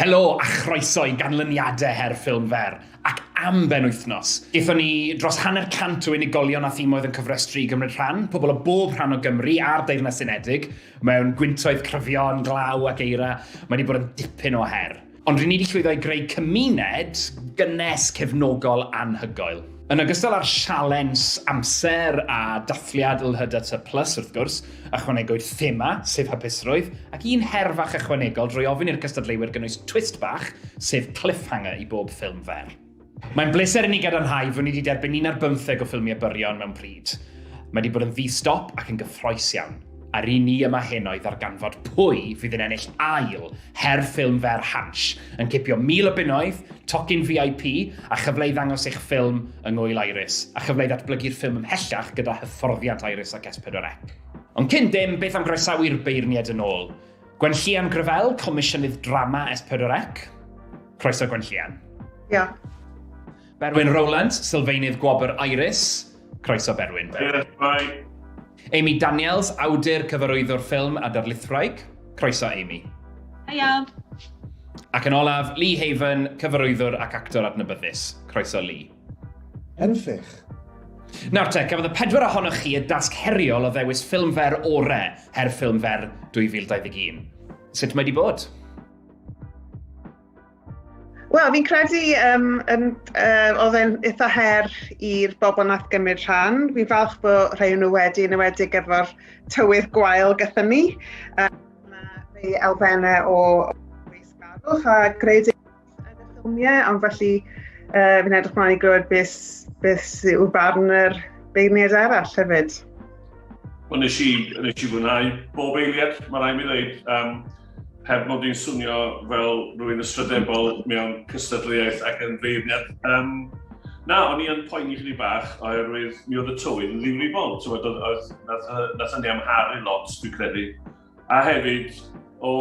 Helo a chroeso i ganlyniadau her ffilm fer, ac am ben wythnos. Gaethon ni dros hanner cant o unigolion a thimoedd yn cyfrestru i gymryd rhan, pobl o bob rhan o Gymru a'r Deyrnas Unedig, mewn gwyntoedd cryfion, glaw ac eira, mae wedi bod yn dipyn o her. Ond ry'n ni wedi llwyddo i greu cymuned gynnes, cefnogol, anhygoel. Yn ogystal â'r sialens amser a dathliad LHDTY Plus, wrth gwrs, ychwanegwyd thema, sef hapusrwydd, ac un her fach ychwanegol drwy ofyn i'r cystadleuwyr gynnwys twist bach, sef cliffhanger i bob ffilm fer. Mae'n bleser i ni gadarnhau fod ni wedi derbyn un ar bymtheg o ffilmiau byrion mewn pryd. Mae wedi bod yn ddi-stop ac yn gyffroes iawn, a'r un ni yma heno i ddarganfod pwy fydd yn ennill ail her ffilm fer Hansh, yn cipio 1,000 o bunnoedd, tocyn VIP, a chyfle i ddangos eich ffilm yng Ngŵyl Iris, a chyfle i ddatblygu'r ffilm ymhellach gyda hyfforddiant Iris ac S4C. Ond cyn dim, beth am groesawu'r beirniaid yn ôl? Gwenllian Grevell, Comisiynydd Drama S4C. Croeso Gwenllian. Diolch. Berwyn Rowland, Sylfaenydd Gwobr Iris. Croeso Berwyn. Diolch, bye. Amy Daniels, awdur, cyfarwyddwr ffilm a darlithwraig. Croeso Amy. Hiya. Ac yn olaf, Lee Haven, cyfarwyddwr ac actor adnabyddus. Croeso Lee. Enwffych! Nawr te, cafodd y pedwar ohonoch chi y dasg heriol o ddewis ffilm fer ore, her ffilm fer 2021. Sut mae di bod? Wel, fi'n credu um, um, uh, oedd e'n eitha her i'r bobl nath gymryd rhan. Fi'n falch bod rhai nhw wedi, yn ywedig efo'r tywydd gwael gyda ni. Um, mae elfennau o weisgarwch a gredu Ffilmiau, ond felly uh, fi'n edrych mlaen i glywed beth, beth yw barn yr beirniaid arall hefyd. Wel, nes i, nes i fwynhau bob eiliad, mae rhaid mi ddweud, um, heb mod i'n swnio fel rwy'n ystrydebol mewn cystadleuaeth ac yn feirniad. Um, na, o'n i yn poeni chdi bach oherwydd mi oedd y tywyn yn ddifrifol. Oedd, oedd, nath, nath ni amharu lot, dwi'n credu. A hefyd, o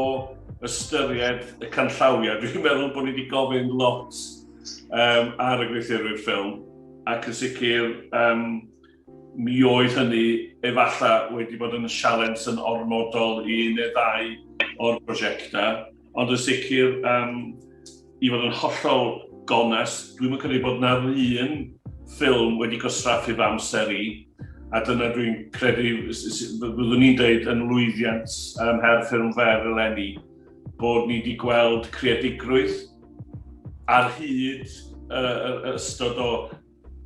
ystyried y canllawiau, dwi'n meddwl bod ni wedi gofyn lot um, ar y gweithio'r ffilm, ac yn sicr, um, mi oedd hynny efallai wedi bod yn sialens yn ormodol i neu ddau o'r prosiectau. Ond yn sicr, um, i fod yn hollol gones, dwi'n mynd credu bod na'r un ffilm wedi gosraffu fy amser i, a dyna dwi'n credu, fyddwn ni'n dweud yn lwyddiant um, her ffilm fer eleni, bod ni wedi gweld creadigrwydd ar hyd y, y, y ystod o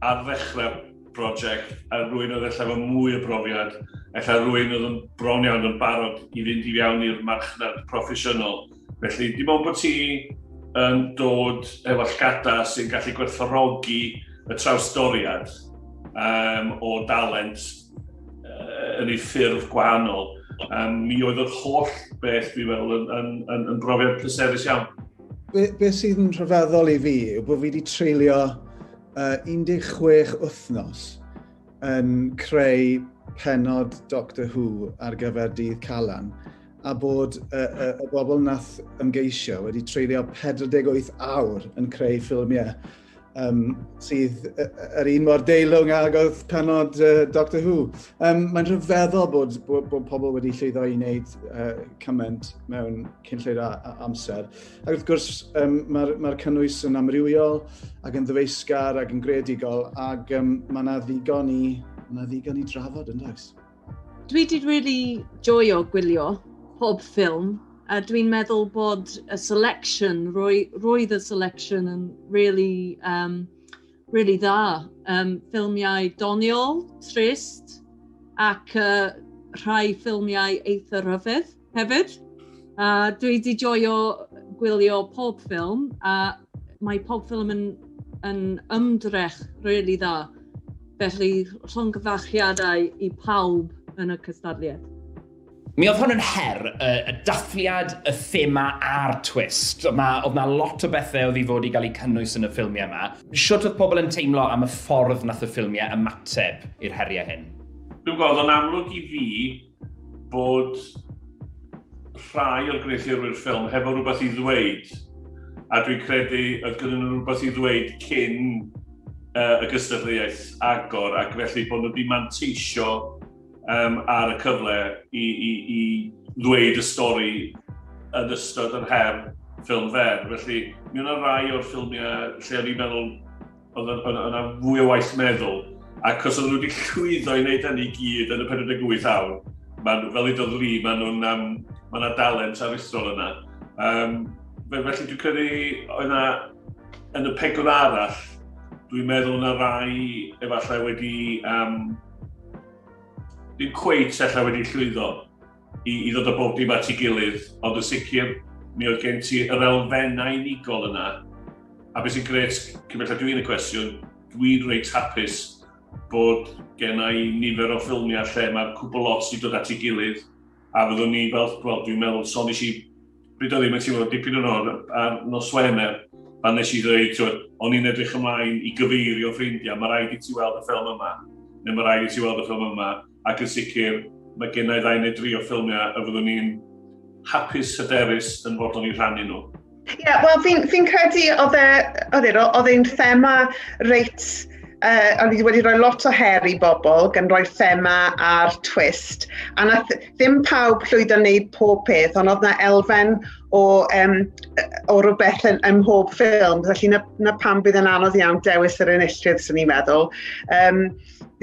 Ar ddechrau prosiect, a rwy'n oedd efallai efo mwy o brofiad, efallai rwy'n oedd yn bron iawn yn barod i fynd i fiawn i'r marchnad proffesiynol. Felly, dim ond bod ti yn dod efo llgada sy'n gallu gwerthfawrogi y trawsdoriad um, o dalent uh, yn ei ffurf gwahanol, um, mi oedd yr holl beth, fi fel, yn, yn, yn, yn brofiad pleserus iawn. Be, be sydd yn rhyfeddol i fi yw bod fi wedi treulio uh, 16 wythnos yn creu penod Doctor Who ar gyfer dydd Calan a bod y, y, y bobl nath ymgeisio wedi treulio 48 awr yn creu ffilmiau um, sydd yr un mor deilwng ag oedd penod uh, Doctor Who. Um, mae'n rhyfeddol bod, bod, bod pobl wedi llwyddo i wneud uh, cymaint mewn cynllwyd amser. Ac wrth gwrs, um, mae'r ma, cynnwys yn amrywiol ac yn ddyfeisgar ac yn gredigol ac um, mae yna ddigon i, ma ddigon i drafod yn does. Dwi wedi rili joio gwylio pob ffilm, a dwi'n meddwl bod y selection, roe- roedd y selection yn rili yym rili dda. Yym ffilmiau doniol, trist ac yy rhai ffilmiau eitha' rhyfedd. hefyd. A dwi wedi joio gwylio pob ffilm, a mae pob ffilm yn, yn ymdrech rili really dda. Felly, llongyfarchiadau i pawb yn y cystadliad. Mi oedd hwn yn her, y, y dathliad, y thema a'r twist. Oedd na, oedd na lot o bethau oedd i fod i gael eu cynnwys yn y ffilmiau yma. Sut oedd pobl yn teimlo am y ffordd nath y ffilmiau ymateb i'r heriau hyn? Dwi'n gweld o'n amlwg i fi bod rhai o'r gwneuthurwyr ffilm hefo rhywbeth i ddweud, a dwi'n credu oedd gyda nhw rhywbeth i ddweud cyn uh, y gystadleuaeth agor, ac felly bod nhw wedi manteisio um, ar y cyfle i, i, i ddweud y stori yn ystod yr her ffilm fer. Felly, mi yna rai o'r ffilmiau lle o'n i'n meddwl, Oedd yna fwy o waith meddwl, ac os oedden nhw wedi llwyddo i wneud hynny i gyd yn y 48 awr, maen, fel i dod Lee, maen nhw'n, um, mae yna dalent aruthrol yna. Um, felly dwi'n credu oedd yna, yn y pegwr arall, dwi'n meddwl yna rai efallai wedi, um, ddim cweit efallai wedi llwyddo. i, i ddod o bob dim at ei gilydd, ond yn sicr, mi oedd gen ti yr elfennau unigol yna. A beth sy'n gret, cymell dw i'n y cwestiwn, dwi'n reit hapus bod gen i nifer o ffilmiau lle mae'r cwbl lot i dod at ei gilydd, a fyddwn ni fel, wel, dwi'n meddwl, son i si Pryd oedd hi'n mynd teimlo dipyn yn o'r ar nos Wener, pan nes i ddweud, twyd, o'n i'n edrych ymlaen i gyfeirio ffrindiau, mae rhaid i ti weld y ffilm yma, neu mae rhaid i ti weld y ffilm yma, ac yn sicr, mae gennau ddau neu dri o ffilmiau a fyddwn ni'n hapus hyderus yn fod o'n i rhannu nhw. Ie, yeah, wel, fi'n fi credu oedd e, oedd e, oedd e'n thema reit uh, o'n i wedi rhoi lot o her i bobl, gan roi thema a'r twist, a nath, ddim pawb llwyddo wneud pob peth, ond oedd na elfen o, um, o rhywbeth yn, ym mhob ffilm, felly na, na pam bydd yn anodd iawn dewis yr enillydd, sy'n ni'n meddwl. Um,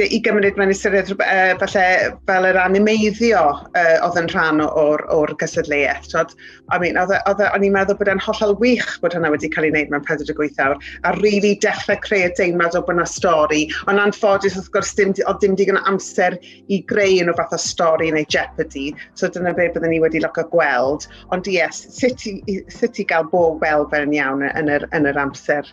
I gymryd mewn ystyried uh, falle fel yr animeiddio uh, oedd yn rhan o'r, or gysadleuaeth. Tod, I mean, oedd, e, oedd, e, o'n i'n meddwl bod e'n hollol wych bod hynna wedi cael ei wneud mewn 48 awr, a rili really dechrau creu y deimlad o bod yna stori, ond anffodus wrth gwrs dim, oedd dim digon amser i greu yn o fath o stori neu jeopardy. So dyna beth byddwn ni wedi loco gweld. Ond yes, sut i, sut i gael bob fel fe'n iawn yn yr, yn yr amser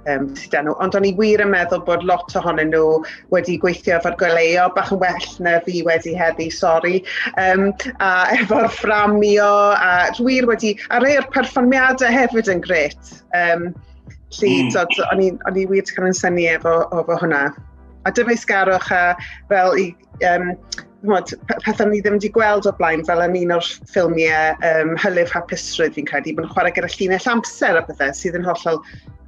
um, sydd â nhw. Ond o'n i wir yn meddwl bod lot ohonyn nhw wedi gweithio efo'r gweleo, bach yn well na fi wedi heddi, sori, um, a efo'r fframio, a wir wedi, a rei o'r perfformiadau hefyd yn gret. Um, Lly, mm. o'n i wir wedi cael yn syni efo, efo hwnna. A dyfeisgarwch a fel i um, mod, pethau ni ddim wedi gweld o blaen, fel yn un o'r ffilmiau um, Hylif Hapusrwydd fi'n credu, bod yn chwarae gyda llinell amser a pethau sydd yn hollol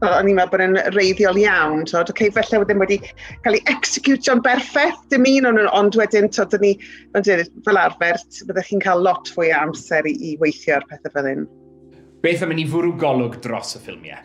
o'n i'n meddwl bod yn reiddiol iawn, tod, okay, felly wedyn wedi cael ei executio'n berffaith, dim un o'n ond wedyn, tod, dyn ni, ond fel arfer, byddwch chi'n cael lot fwy o amser i, i weithio ar pethau fel hyn. Beth am i ni fwrw golwg dros y ffilmiau?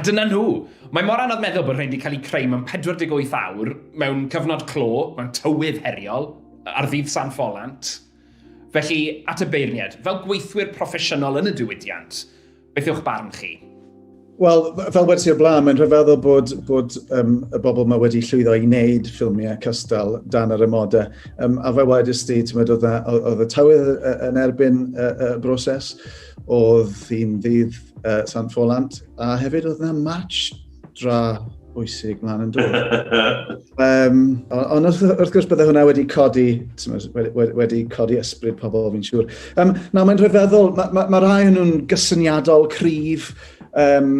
A dyna nhw! Mae mor anodd meddwl bod rhain wedi cael eu creu mewn 48 awr, mewn cyfnod clo, mewn tywydd heriol, ar ddydd San Ffolant. Felly, at y beirniaid, fel gweithwyr proffesiynol yn y diwydiant, Beth yw'ch barn chi? Wel, fel wedi o'r blaen, mae'n rhyfeddol bod, bod um, y bobl yma wedi llwyddo i wneud ffilmiau cystal dan yr ymodau. Um, a fe wedys ti, ti'n meddwl, oedd y tywydd yn erbyn y, y broses, oedd hi'n ddydd uh, Sant Ffolant, a hefyd oedd yna match dra bwysig mlaen yn dod. um, ond wrth, wrth gwrs bydde hwnna wedi codi, wedi, wedi codi ysbryd pobl fi'n siŵr. Um, na, mae'n rhyfeddol, mae ma, ma rhai nhw'n gysyniadol, cryf, um,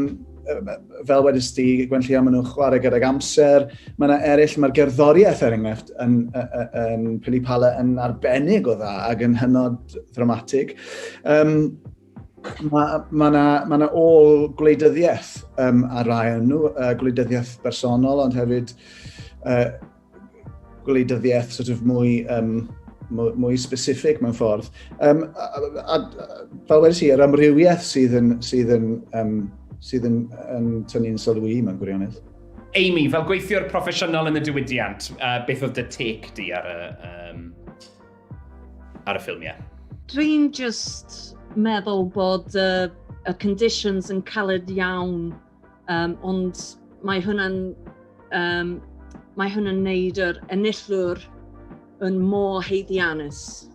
fel wedys ti, Gwen Llio, maen nhw'n chwarae gydag amser. Mae yna eraill, mae'r gerddoriaeth er enghraifft yn, yn, yn Pili Pala yn arbennig o dda ac yn hynod ddramatig. Um, Mae ma yna ma na ôl gwleidyddiaeth um, ar rai yn nhw, uh, gwleidyddiaeth bersonol, ond hefyd uh, gwleidyddiaeth sort of mwy, um, mwy, mwy specific mewn ffordd. Um, a, a, a, fel wedi si, yr amrywiaeth sydd yn, sydd yn, um, sydd yn, yn tynnu'n sylwi mewn gwirionedd. Amy, fel gweithiwr proffesiynol yn y diwydiant, uh, beth oedd dy tec di ar y, um, ar y ffilmiau. Dwi'n just meddwl bod y, y conditions yn caled iawn, um, ond mae hwnna'n um, mae hwnna'n neud yr enillwr yn mor heiddianus.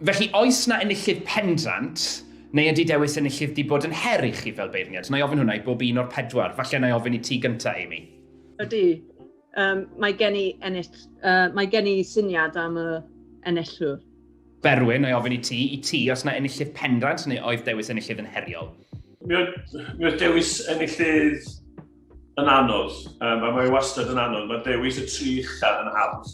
Felly, oes na enillydd pendrant Neu ydy dewis enillydd di bod yn her i chi fel beirniad? Na i ofyn hwnna i bob un o'r pedwar. Falle na i ofyn i ti gyntaf, Amy. Ydy. Yym, mae gen i ennill... Uh, mae gen i syniad am y enillwr. Berwyn, o'i ofyn i ti, i ti, os yna enillydd pendrant neu oedd dewis enillydd yn heriol? Mi oedd dewis enillydd yn anodd, um, a mae wastad yn anodd. Mae dewis y tri uchaf yn hawdd.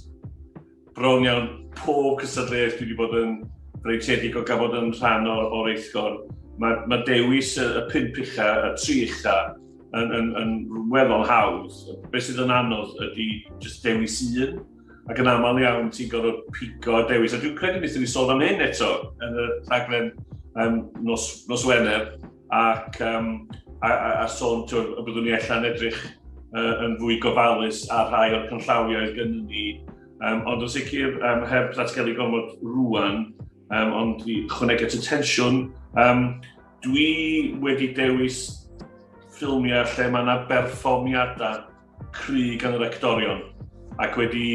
Bron iawn pob cystadleuaeth dwi wedi bod yn freintiedig o gael bod yn rhan o'r, or eithgor. Mae, mae dewis y, y pimp ucha, y tri ucha, yn, yn, yn weddol hawdd. Be sydd yn anodd ydy just dewis un, ac yn aml iawn ti'n gorfod pigo a dewis. A dwi'n credu wnaethon ni sôn am hyn eto yn y rhaglen um, nos, nos Wener, ac um, a, a, a sôn tywed, y byddwn ni allan edrych uh, yn fwy gofalus ar rhai o'r cynllawiau gen ni. Um, ond yn sicr, um, heb ddatgelu gormod rwan, um, ond i chwneg at y tensiwn, um, dwi wedi dewis ffilmiau lle mae yna berfformiadau cry gan yr actorion ac wedi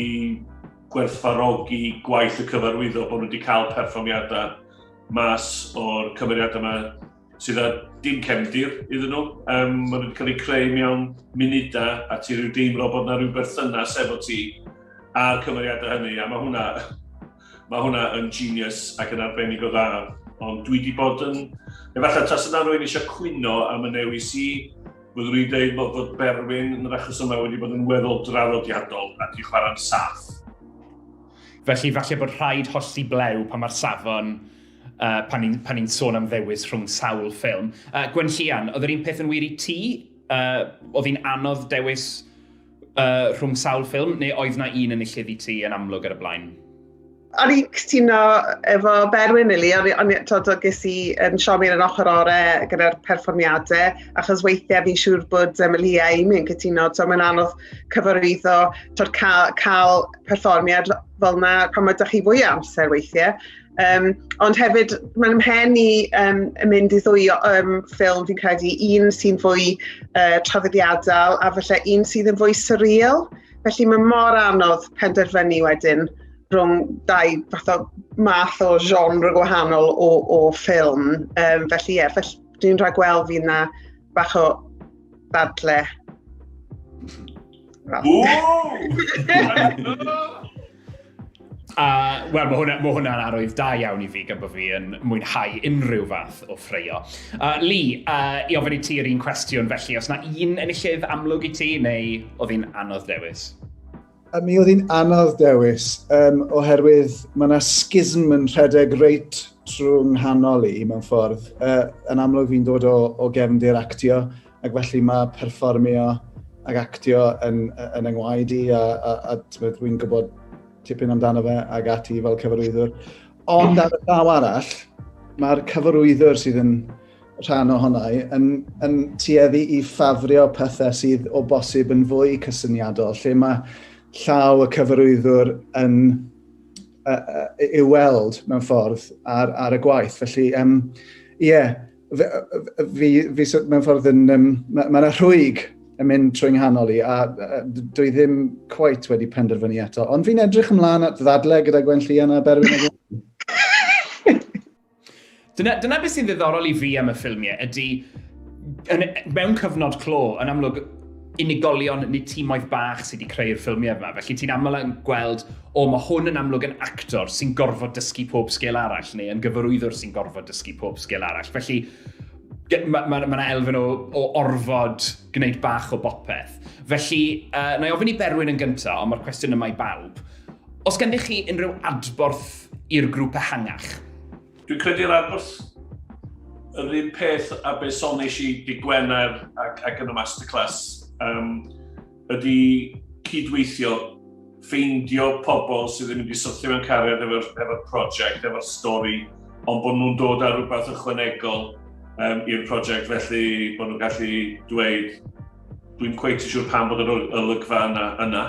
gwerthfarogi gwaith y cyfarwyddo bod nhw wedi cael perfformiadau mas o'r cymeriadau yma sydd â dim cefndir iddyn nhw. Um, mae nhw wedi cael eu creu mewn munudau a ti rhyw deimlo bod yna rhyw berthynas efo ti a'r cymeriadau hynny a mae hwnna, mae hwnna yn genius ac yn arbennig o dda. Ond dwi wedi bod yn, efallai tas yna rwy'n eisiau cwyno am y newis i Byddwn i'n dweud bod, bod Berwyn yn yr achos yma wedi bod yn weddol draddodiadol a di chwarae'n saff. Felly falle bod rhaid hollti blew pan mae'r safon uh, pan ni'n pan ni sôn am ddewis rhwng sawl ffilm. Uh, Gwen Llian, oedd yr un peth yn wir i ti? Uh, oedd hi'n anodd dewis uh, rhwng sawl ffilm, neu oedd na un yn illid i ti yn amlwg ar y blaen? O'n i'n cytuno efo Berwyn ili, o'n i'n tod o ges i yn siomi yn ochr ore gyda'r perfformiadau, achos weithiau fi'n siŵr bod um, Lia i mi'n cytuno, tod mae'n anodd cyfarwyddo, tod cael, cael perfformiad fel yna pan mae chi fwy amser weithiau. Um, ond hefyd, mae'n mhen i um, mynd i ddwy um, ffilm fi'n credu, un sy'n fwy uh, traddodiadol a felly un sydd yn fwy surreal. Felly mae mor anodd penderfynu wedyn rhwng dau fath o math o genre gwahanol o, o ffilm. Um, felly ie, yeah, felly dwi'n rhaid gweld fi yna bach o ddadle. Well. A, wel, mae hwnna'n hwnna arwydd da iawn i fi gan bod fi yn mwynhau unrhyw fath o ffreio. Uh, Lee, uh, i ofyn i ti yr un cwestiwn felly, os na un enillydd amlwg i ti neu oedd hi'n anodd dewis? A mi oedd hi'n anodd dewis, um, oherwydd mae yna schism yn rhedeg reit trwy nghanol i mewn ffordd. Uh, yn amlwg fi'n dod o, o gefndir actio, Ac felly mae perfformio ac actio yn, yn yngwaed i a, a, a tybed, rwy'n gwybod tipyn amdano fe ac ati fel cyfarwyddwr. Ond ar y llaw arall, mae'r cyfarwyddwr sydd yn rhan o honnau yn, yn tueddu i ffafrio pethau sydd o bosib yn fwy cysyniadol, lle mae llaw y cyfarwyddwr yn uh, uh, i'w weld mewn ffordd ar, ar y gwaith. Felly, ie, um, yeah, Fi, fi, fi mewn ffordd yn... Um, Mae yna ma rhwyg yn mynd trwy nghanol i, a uh, dwi ddim cweit wedi penderfynu eto. Ond fi'n edrych ymlaen at ddadle gyda Gwen Llian a Berwyn. dyna, dyna beth sy'n ddiddorol i fi am y ffilmiau, ydy yn, mewn cyfnod clo, yn amlwg, unigolion neu timoedd bach sydd wedi creu'r ffilmiau yma. Felly ti'n aml yn gweld, o mae hwn yn amlwg yn actor sy'n gorfod dysgu pob sgil arall, neu yn gyfarwyddwr sy'n gorfod dysgu pob sgil arall. Felly mae ma, ma elfen o, o orfod gwneud bach o bopeth. Felly, uh, na i ofyn i Berwyn yn gyntaf, ond mae'r cwestiwn yma i bawb. Os gennych chi unrhyw adborth i'r grŵp ehangach, Dwi'n credu'r adborth yr un peth a be sonis i di Gwener ac, ac yn y masterclass um, ydy cydweithio, ffeindio pobl sydd ddim wedi syrthio mewn cariad efo'r efo prosiect, efo'r stori, ond bod nhw'n dod â rhywbeth ychwanegol um, i'r prosiect, felly bod nhw'n gallu dweud, dwi'n cweith siŵr pam bod yr olygfa yna, yna.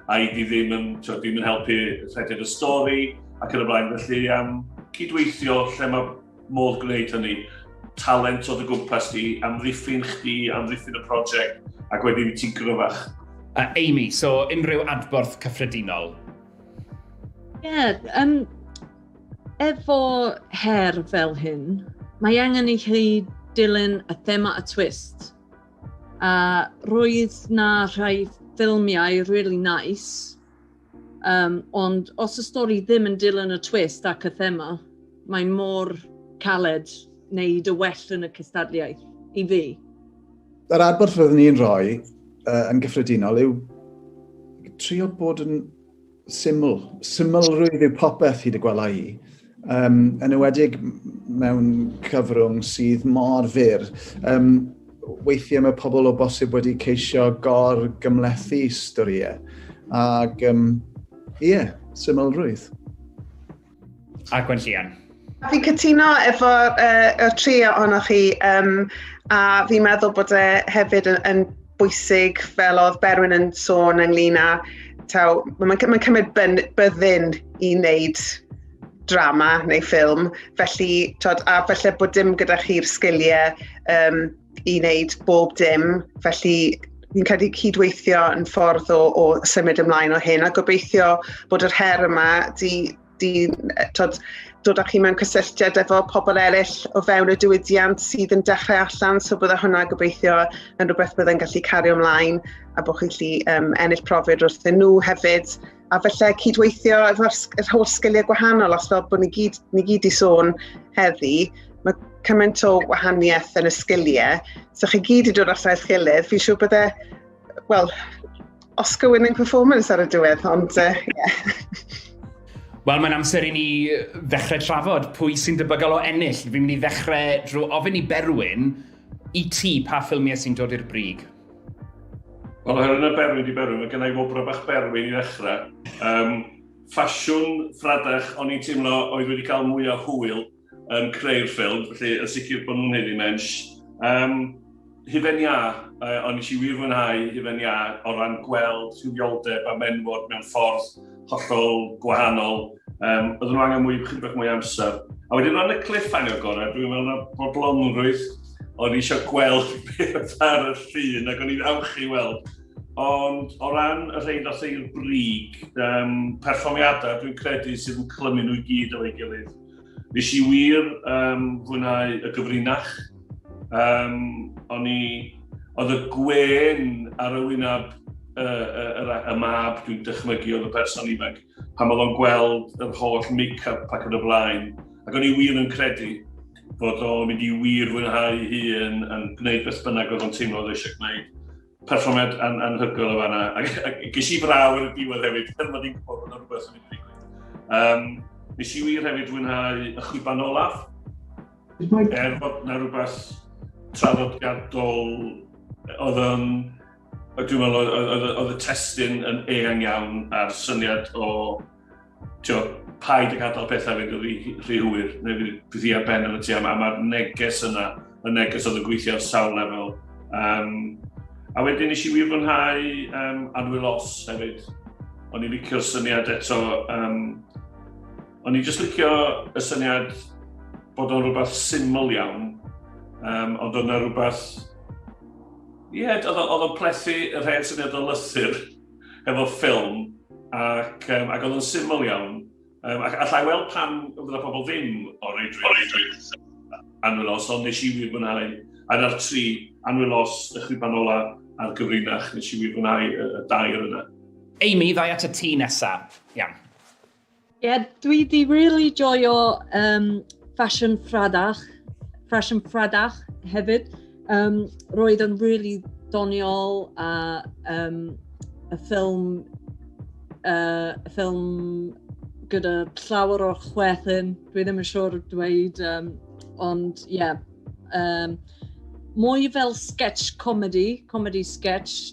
a i di ddim yn, tywed, ddim yn helpu rhedeg y stori ac yn y blaen. Felly, um, cydweithio lle mae modd gwneud hynny, talent o dy gwmpas di, amddiffyn chdi, amddiffyn y prosiect, ac wedyn ti'n gryfach. Uh, Amy, so unrhyw adborth cyffredinol? Ie, yeah, um, efo her fel hyn, mae angen i chi dilyn y thema a twist. A roedd na rhai ffilmiau really nice, um, ond os y stori ddim yn dilyn y twist ac y thema, mae mor caled wneud y well yn y cystadliaeth i fi. Yr adborth roeddwn ni'n rhoi uh, yn gyffredinol yw trio bod yn Syml. Symlrwydd yw popeth hyd y gwela i. Um, yn ywedig mewn cyfrwng sydd mor fyr. Um, weithiau mae pobl o bosib wedi ceisio gor gymlethu storiau. Ac, um, ie, yeah, symlrwydd. a Gwen Llian. Fi'n cytuno efo uh, y tri ohonoch chi, um, a fi'n meddwl bod e hefyd yn, yn bwysig fel oedd Berwyn yn sôn ynglyn â, taw, mae'n ma cymryd byddin i wneud drama neu ffilm, felly, tod, a felly bod dim gyda chi'r sgiliau um, i wneud bob dim, felly fi'n credu cydweithio yn ffordd o, o symud ymlaen o hyn a gobeithio bod yr her yma di, di tod, dod â chi mewn cysylltiad efo pobl eraill o fewn y diwydiant sydd yn dechrau allan, so bydda hwnna gobeithio yn rhywbeth byddai'n gallu cario ymlaen a bod chi'n gallu um, ennill profid wrthyn nhw hefyd. a felly cydweithio efo'r yr holl sgiliau gwahanol, os fel bod ni gyd, ni gyd i sôn heddi, mae cymaint o wahaniaeth yn y sgiliau, so chi gyd i dod allan eich gilydd, fi'n siŵr bydde, wel, Oscar winning performance ar y diwedd, ond uh, yeah. Wel, mae'n amser i ni ddechrau trafod pwy sy'n debygol o ennill. Fi'n mynd i ddechrau drwy ofyn i Berwyn i ti pa ffilmiau sy'n dod i'r brig. Wel, oherwydd yn y berwyn di berwyn, mae gennau i wobrau bach berwyn i ddechrau. Um, ffasiwn ffradach, o'n i'n teimlo oedd wedi cael mwy o hwyl yn creu'r ffilm, felly yn sicr bod nhw'n hyn i mensh. Um, Hyfen Ia, uh, o'n i eisiau wir fwynhau Hyfen Ia o ran gweld rhywioldeb a menwod mewn ffordd hollol gwahanol. Um, oedden nhw angen mwy, chydig bach mwy amser. A wedyn o'n y cliff angen gorau, dwi'n meddwl na bodlonrwydd, o'n eisiau gweld beth ar y llun ac o'n i'n awch i weld. Ond o ran y rhaid ddath i'r brig, um, perfformiadau dwi'n credu sydd yn clymu nhw i gyd o'i gilydd. Nes i wir um, fwynhau y gyfrinach. Um, o'n i... Oedd y gwen ar y wyneb y, y, y, y mab, dwi'n dychmygu, oedd y person ifanc, pan oedd o'n gweld yr holl make-up ac yn y blaen. Ac o'n i wir yn credu bod o'n mynd i wir fwynhau hun yn gwneud beth bynnag oedd o'n teimlo oedd eisiau gwneud. perfformiad an anhygoel o fanna. Ac, ac ges i fraw yn y diwedd hefyd, er bod i'n gwybod bod yna rhywbeth yn mynd i ddigwydd. Um, nes i wir hefyd fwynhau y chwiban olaf. Er bod yna rhywbeth traddodiadol oedd yn... Dwi'n meddwl oedd y testyn yn eang iawn a'r syniad o Tio, paid ag adael pethau fynd yn rhy hwyr, neu fydd bydd hi ar ben yn y ti, a mae'r neges yna, y neges oedd yn gweithio ar sawl lefel. Um, a wedyn nes i wir fwynhau um, Anwyl Os hefyd. O'n i'n licio'r syniad eto, um, o'n i'n just licio y syniad bod o'n rhywbeth syml iawn, um, ond o'n rhywbeth... Ie, yeah, oedd o'n plethu y rhaid syniad o lythyr. hefo ffilm, ac, um, ac oedd yn syml iawn. Um, ac allai weld pan oedd yna pobl ddim o reidrwydd anwylos, ond nes i wir fwynhau. A na'r tri anwylos y chwiban ola a'r gyfrinach, nes i wir fwynhau y, y dair yna. Amy, ddau at y ti nesa. Iawn. Ie, yeah, dwi di really joio um, Fashion Fradach, Fashion Fradach hefyd. Um, roedd yn really doniol a um, y ffilm, uh, y ffilm gyda llawer o'r chwethyn, dwi ddim yn siŵr dweud, um, ond ie. Yeah, um, mwy fel sketch comedy, comedy sketch,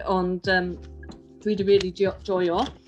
ond um, dwi wedi really joio.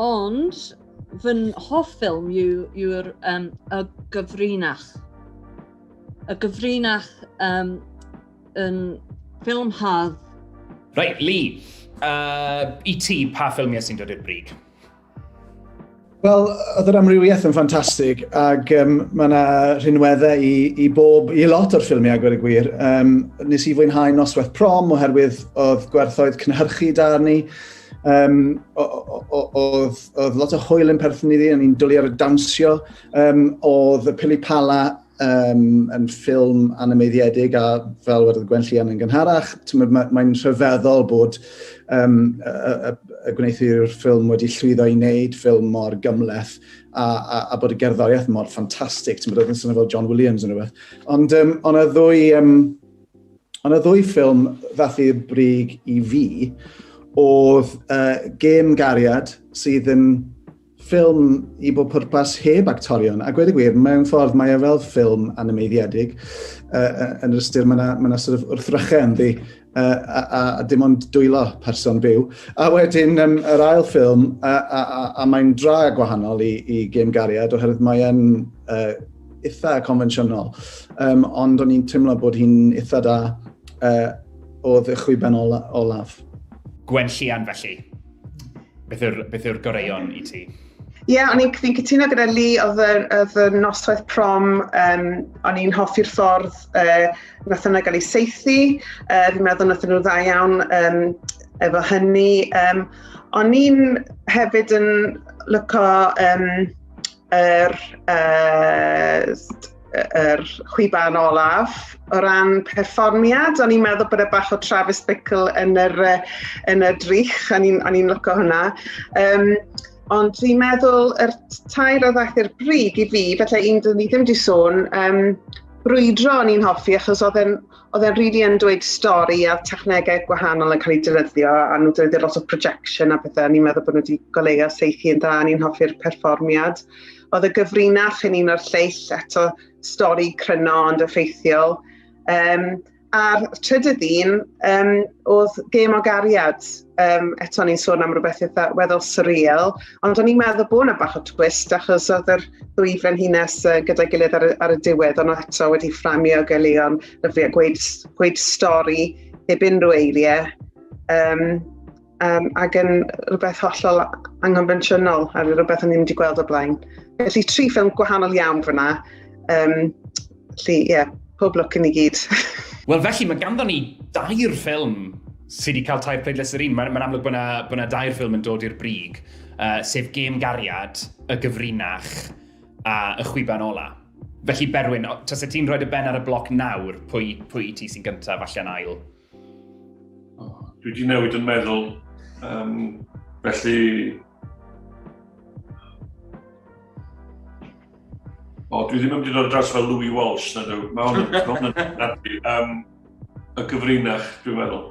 Ond fy hoff ffilm yw'r yw um, y gyfrinach. Y gyfrinach um, yn ffilm hardd. Right, Lee, uh, i ti, pa ffilmiau sy'n dod i'r brig? Wel, oedd yr amrywiaeth yn ffantastig, ac um, mae yna rhinweddau i, i bob, i lot o'r ffilmiau, gwir y gwir. Um, nes i fwynhau noswaith prom, oherwydd oedd gwerthoedd cynhyrchu da ni, Um, oedd lot o hwyl yn perthyn iddi, o'n i'n dwlu ar y dawnsio. Um, oedd y Pili Pala um, yn ffilm animeiddiedig a fel wedi Gwen Llian yn gynharach, mae'n mae rhyfeddol bod um, y, y, y gwneithwyr ffilm wedi llwyddo i wneud ffilm mor gymleth a, a, a bod y gerddoriaeth mor ffantastig. Ti'n bod oedd yn swnio fel John Williams yn rhywbeth. Ond um, on y ddwy um, Ond y ddwy ffilm ddath i'r brig i fi oedd uh, Gêm Gariad sydd yn ffilm i bob pwrpas heb actorion. A gwed y gwir, mewn ffordd mae e fel ffilm animeiddiedig. Uh, yn yr ystyr, mae yna ma, na, sort of wrthrychau ynddi uh, a, a, a dim ond dwylo person byw. A wedyn um, yr ail ffilm, a, a, a, a mae'n dra gwahanol i, i Gêm Gariad oherwydd mae'n uh, eitha confensiynol, um, ond o'n i'n teimlo bod hi'n eitha da uh, o ddichwyben ola, olaf. Gwen Llian felly, beth yw'r beth yw'r goreion i ti? Ie, yeah, o'n i'n fi'n cytuno gyda Li, oedd y noswaith prom, um, o'n i'n hoffi'r ffordd uh, nath yna gael ei seithi, uh, fi'n meddwl nath nhw dda iawn um, efo hynny. Um, o'n i'n hefyd yn lyco um, yr, uh, yr chwiban olaf. O ran perfformiad, o'n i'n meddwl bod e bach o Travis Bickle yn yr, yn y drych, o'n i'n lyco hwnna. Um, ond dwi'n meddwl yr tair o ddaeth i'r bryd i fi, felly un dyn ni ddim wedi sôn, um, brwydro o'n i'n hoffi achos oedd e'n oedd e'n rili yn dweud stori a technegau gwahanol yn cael eu dilyddio a nhw dweud lot o projection a pethau. Ni'n meddwl bod nhw wedi goleuo seithi yn dda, ni'n hoffi'r perfformiad. Oedd y gyfrinach yn un o'r lleill eto stori cryno ond effeithiol. Um, a'r trydydd un um, oedd gêm o gariad. um, eto ni'n sôn am rhywbeth eitha weddol surreal, ond o'n i'n meddwl bod yna bach o twist achos oedd yr ddwy frenhines uh, gyda'i gilydd ar y, ar y diwedd, ond eto wedi fframio gelion lyflu a gweud, gweud stori heb unrhyw eiriau. Um, um, ac yn rhywbeth hollol angonfensiynol a rhywbeth o'n i'n wedi gweld o blaen. Felly tri ffilm gwahanol iawn fyna, um, Felly, ie, yeah, pob lwc i ni gyd. Wel, felly, mae ganddo ni dair ffilm sydd wedi cael tair pleidlais yr un. Mae'n ma amlwg bod yna, bod yna dair ffilm yn dod i'r brig, uh, sef Gêm Gariad, Y Gyfrinach a Y Chwiban Ola. Felly, Berwyn, tas y ti'n rhoi dy ben ar y bloc nawr, pwy, pwy i ti sy'n gyntaf allan ail? Oh, dwi wedi newid yn meddwl. Um, felly, O, dwi ddim yn mynd i ddod dros fel Louis Walsh, na dwi. Mae hwn yn hwn yn nadwy. Um, y gyfrinach, dwi'n meddwl.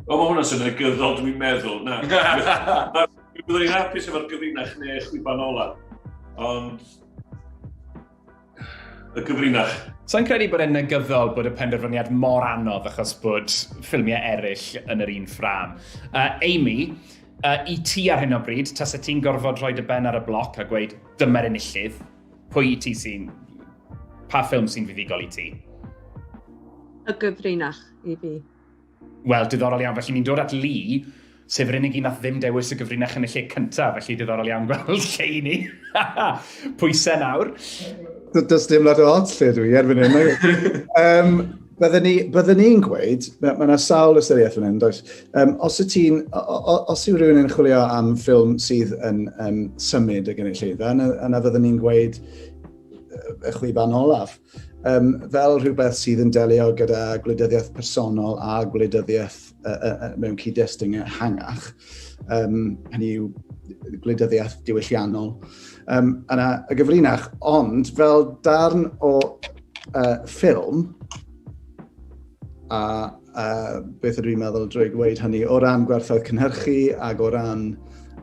O, mae hwnna'n sy'n negyddol, dwi'n meddwl. Na, dwi'n byddwn i'n hapus efo'r gyfrinach neu chwiban ola. Ond... y gyfrinach. Sa'n credu bod e'n negyddol bod y penderfyniad mor anodd achos bod ffilmiau eraill yn yr un ffram. Uh, Amy, uh, i ti ar hyn o bryd, tas y ti'n gorfod rhoi dy ben ar y bloc a gweud dyma'r enillydd, pwy i ti sy'n... pa ffilm sy'n fuddugol i ti? Y gyfrinach i fi. Wel, diddorol iawn. Felly ni'n dod at Lee, sef yr unig un nath ddim dewis y gyfrinach yn y lle cyntaf, felly diddorol iawn gweld lle i ni. Pwysau nawr. Does dim lot o ots lle dwi erbyn hyn. um, Byddwn ni, bydde ni'n gweud, mae yna sawl ystyriaeth fan hyn, does? Um, os, y tîn, os yw rhywun yn chwilio am ffilm sydd yn um, symud y gynulleidfa, yna, yna fyddwn ni'n gweud y chwiban olaf. um, fel rhywbeth sydd yn delio gyda gwleidyddiaeth personol a gwleidyddiaeth uh, uh, uh, mewn cyd-destun ehangach, um, hynny yw gwleidyddiaeth diwylliannol, um, yna y gyfrinach, ond fel darn o uh, ffilm, a uh, beth ydw i'n meddwl drwy gweud hynny, o ran gwerthoedd cynhyrchu ac o ran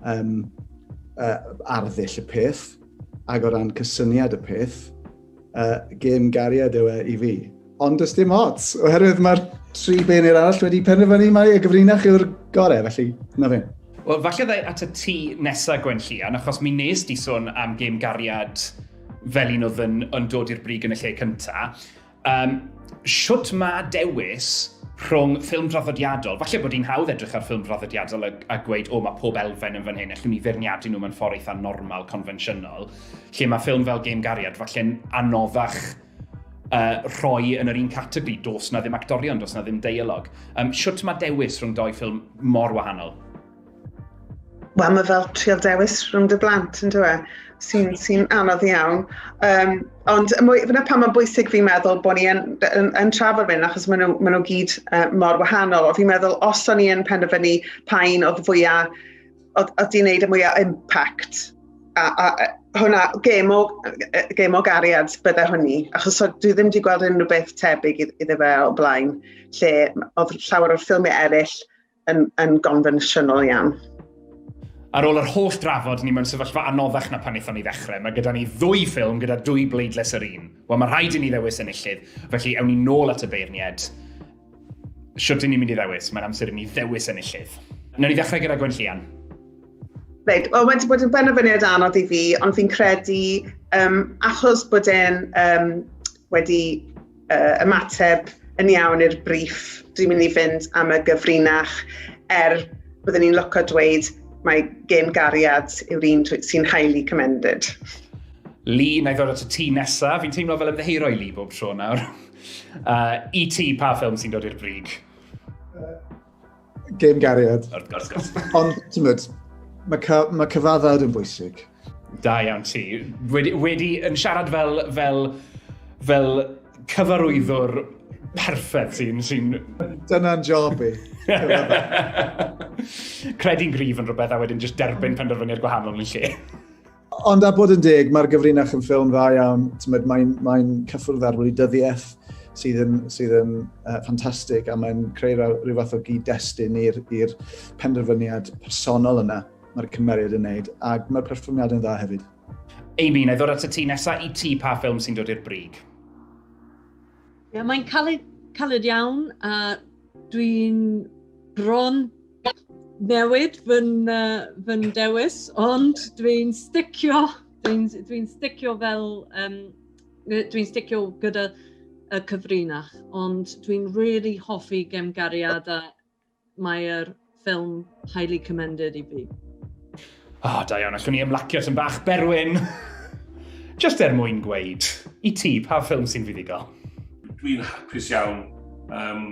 um, uh, arddull y peth, ac o ran cysyniad y peth, Uh, gêm gariad yw e i fi. Ond does dim ots, oherwydd mae'r tri beunir arall wedi penderfynu mai y gyfrinach yw'r gorau, felly na fe. Wel, falle ddau at y ti nesa Gwen Llian, achos mi nes di sôn am gêm gariad fel un oedd yn, yn dod i'r brig yn y lle cyntaf. Um, siwt mae dewis rhwng ffilm draddodiadol, falle bod hi'n hawdd edrych ar ffilm draddodiadol a, a gweud, o, mae pob elfen yn fan hyn, allwn ni feirniadu nhw mewn ffordd eitha normal, confensiynol, Lle mae ffilm fel Gêm Gariad falle'n anoddach uh, rhoi yn yr un categori, dos na ddim actorion, dos na ddim deialog. Um, siwt mae dewis rhwng doi ffilm mor wahanol? Wel, mae fel trial dewis rhwng dy blant, yn dweud, e? sy'n sy anodd iawn. Um, ond fyna pan mae'n bwysig fi'n meddwl bod ni yn, yn, yn trafod fy'n achos maen nhw, maen nhw gyd uh, mor wahanol. O fi'n meddwl, os o'n i yn penderfynu pa un oedd fwyaf Oedd, oedd ti'n neud y mwyaf impact. A, a, a hwnna, gêm o, gêm o gariad bydde hwnni, achos so, dwi ddim wedi gweld unrhyw beth tebyg iddo fe o blaen, lle oedd llawer o'r ffilmiau eraill yn, yn gonfensiynol iawn. Ar ôl yr holl drafod, ni mewn sefyllfa anoddach na pan wnaethon ni ddechrau. Mae gyda ni ddwy ffilm gyda dwy bleidles yr un. Wel, mae rhaid i ni ddewis enillydd, felly ewn ni nôl at y beirniaid. Shwt i ni'n mynd i ddewis? Mae'n amser i ni ddewis enillydd. Nawr ni ddechrau gyda Gwen Llian. Reit, wel mae wedi bod yn benderfyniad anodd i fi, ond fi'n credu um, achos bod e'n um, wedi uh, ymateb yn iawn i'r briff, dwi'n mynd i fynd am y gyfrinach er byddwn ni'n loco dweud mae gen gariad yw'r un sy'n highly commended. Lee, na i ddod at y ti nesaf. Fi'n teimlo fel ymddeheiro i Lee bob tro nawr. Uh, I e ti, pa ffilm sy'n dod i'r brig? Uh, Game Gariad. Wrth gwrs, gwrs. Ond, ti'n mynd, mae ca, ma cyfaddawd yn bwysig. Da iawn ti. Wedi, wedi yn siarad fel, fel, fel cyfarwyddwr perffaith sy'n... Sy Dyna'n job i. Credu'n gryf yn rhywbeth a wedyn just derbyn penderfyniad gwahanol yn lle. Ond a bod yn deg, mae'r gyfrinach yn ffilm dda iawn. Mae'n mae cyffwrdd ar wleidyddiaeth sydd yn, sydd yn uh, ffantastig a mae'n creu rhyw fath o gyd-destun i'r penderfyniad personol yna mae'r cymeriad yn neud, ac mae'r perfformiad yn dda hefyd. Amy, na i ddod at y ti nesaf i ti pa ffilm sy'n dod i'r brig? Ie, yeah, mae'n caled, caled iawn a dwi'n bron newid fy, uh, fy dewis, ond dwi'n sticio, dwi'n dwi sticio fel, um, dwi'n sticio gyda y cyfrinach, ond dwi'n really hoffi gemgariad a mae'r ffilm highly commended i fi. O, oh, da iawn, allwn ni ymlacio sy'n bach berwyn. Just er mwyn gweud, i ti, pa ffilm sy'n fuddugol? Dwi'n hapus iawn um,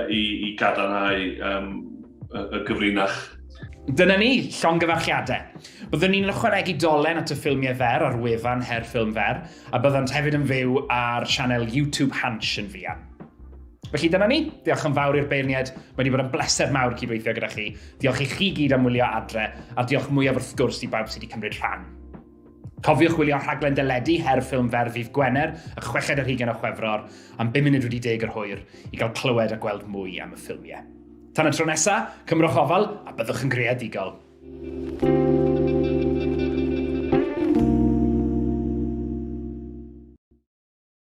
i, i gadarnhau um, y, y gyfrinach. Dyna ni, llongyfarchiadau. Byddwn ni'n ychwanegu dolen at y ffilmiau fer ar wefan Her Ffilm Fer, a byddant hefyd yn fyw ar sianel YouTube Hansh yn fuan. Felly dyna ni, diolch yn fawr i'r beirniaid, mae wedi bod yn bleser mawr cydweithio gyda chi. Diolch i chi gyd am wylio adre, a'r diolch mwyaf wrth gwrs i bawb sydd wedi cymryd rhan. Cofiwch wylio rhaglen deledu her ffilm fer ddydd Gwener, y chweched ar hugen o Chwefror, am 5 munud wedi deg yr hwyr, i gael clywed a gweld mwy am y ffilmiau. Tan y tro nesa, cymrwch ofal a byddwch yn greadigol.